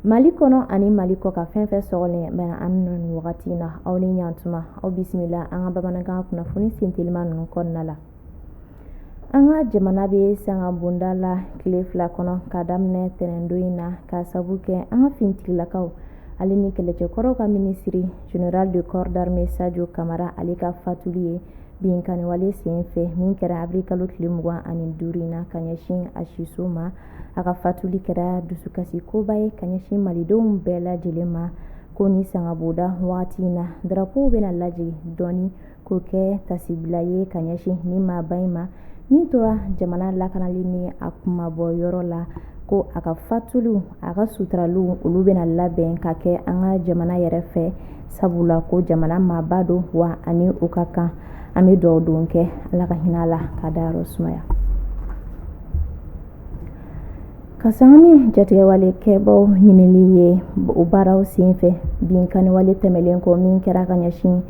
mali kɔnɔ ani mali kɔkan fɛn fɛn sɔgɔlen bɛ an na nin wagati na aw ni ɲantuma aw bisimila an ka bamanankan kunnafoni sentelima ninnu kɔnɔna la an ka jamana bɛ sanga bonda la tile fila kɔnɔ ka daminɛ tɛnɛndon in na ka sabu kɛ an ka fintigilakaw ale ni kɛlɛcɛkɔrɔw ka minisiri general de corps d'armée sajo kamara ale ka fatuli ye binkanwale sen fɛ min kɛra abiri kalo tile mugan ani duuru in na ka ɲɛsin a siso ma a ka fatuli kɛra dusukasi koba ye ka ɲɛsin malidenw bɛɛ lajɛlen ma ko nin sanga bonda wagati in na darapo bɛna lajigin dɔɔnin k'o kɛ tasibila ye ka ɲɛsin nin maaba in ma min tora jamana lakanali ni a kunmabɔ yɔrɔ la ko a ka fatuli a ka suturaliw olu bɛna labɛn ka kɛ an ka jamana yɛrɛ fɛ sabula ko jamana maaba don wa a ni o ka kan an bɛ dugawu don kɛ ala ka hinɛ a la k'a dayɔrɔ sumaya ka sanga ni jatigɛwalekɛbaw ɲinini ye o baaraw senfɛ binkanniwale tɛmɛlen kɔ min kɛra ka ɲɛsin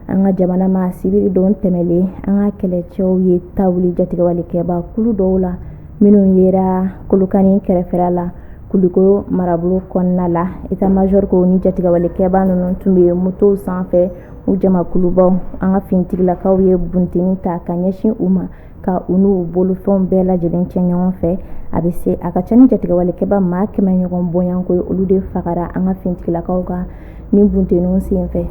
an ka jamana ma sibiri don tɛmɛlen an ka kɛlɛcɛw ye ta wuli jatigɛwalekɛba kulu dɔw la minnu yera kolokani kɛrɛfɛra la kulikoro marabolo kɔnɔna la état major ko nin jatigɛwalekɛba ninnu tun bɛ motow sanfɛ u jamakulubaw an ka finitigilakaw ye bunteni ta ka ɲɛsin u ma ka u n'u bolofɛnw bɛɛ lajɛlen cɛ ɲɔgɔn fɛ a bɛ se a ka ca ni jatigɛwalekɛba maa kɛmɛ ɲɔgɔn bonya ko ye olu de fagara an ka finitigilakaw ka nin bunteninw senfɛ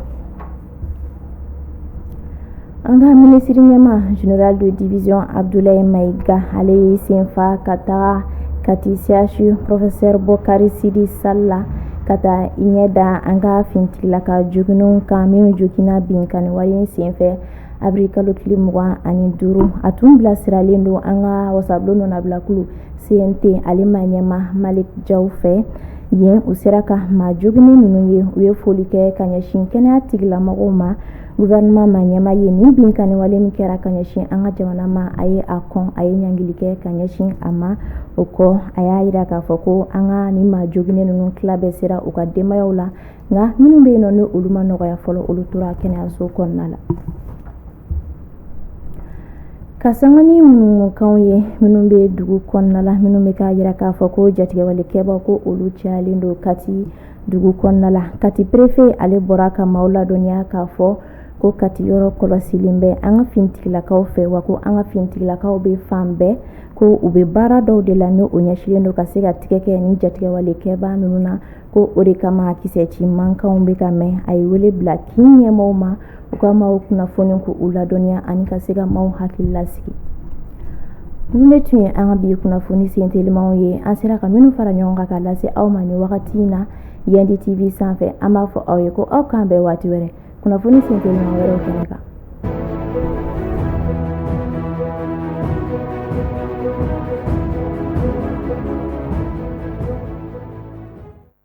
an ka minisiriɲɛmaa general de division abdulayi mayiga ale ye senfa ka taga kati chu professeur bokari sidi sal la ka taa i ɲɛ da an ka fintigilaka joginnenw kan minnu joginna binkanni wale in senfɛ abiri kalo tile mugan ani duuru a tun bilasiralen don an ka wasabulon nɔnabilakulu cnt ale maa ɲɛmaa malik jaw fɛ yen u sera ka maa joginnen ninnu ye u ye foli kɛ ka ɲɛsin kɛnɛya tigilamɔgɔw ma gouvernement maa ɲɛmaa ye nin binkanniwale min kɛra ka ɲɛsin an ka jamana ma a ye a kɔn a ye ɲangili kɛ ka ɲɛsin a ma o kɔ a y'a jira k'a fɔ ko an ka nin maa joginnen ninnu tila bɛɛ sera u ka denbayaw la nka minnu bɛ yen nɔ ni olu ma nɔgɔya fɔlɔ olu tora kɛnɛyaso kɔnɔna la ka sanga ni ŋunuŋunukanw ye minnu bɛ dugu kɔnɔna la minnu bɛ k'a jira k'a fɔ ko jatigɛwalekɛbaa ko olu cayalen don kati dugu kɔnɔna la kati perefe ale bɔra ka maaw ladɔnniya k'a fɔ ko kati yɔrɔ kɔlɔsilen bɛ an ka finitigilakaw fɛ wa ko an ka finitigilakaw bɛ fan bɛɛ ko u bɛ baara dɔw de la ni o ɲɛsilen don ka se ka tigɛ kɛ nin jatigɛwalekɛbaa ninnu na ko o de kama kisɛ ci mankanw bɛ ka mɛn a ye wele bila kin ɲɛmaaw ma u ka maaw kunnafoni k'u ladɔnniya ani ka se ka maaw hakili lasigi ninnu de tun ye an ka bi kunnafoni sentelimanw ye an sera ka minnu fara ɲɔgɔn kan ka lase aw ma nin wagati in na yandi tv sanfɛ an b'a fɔ aw ye ko aw k'an bɛn waati wɛrɛ kunnafoni senteliman wɛrɛw kɛnɛ kan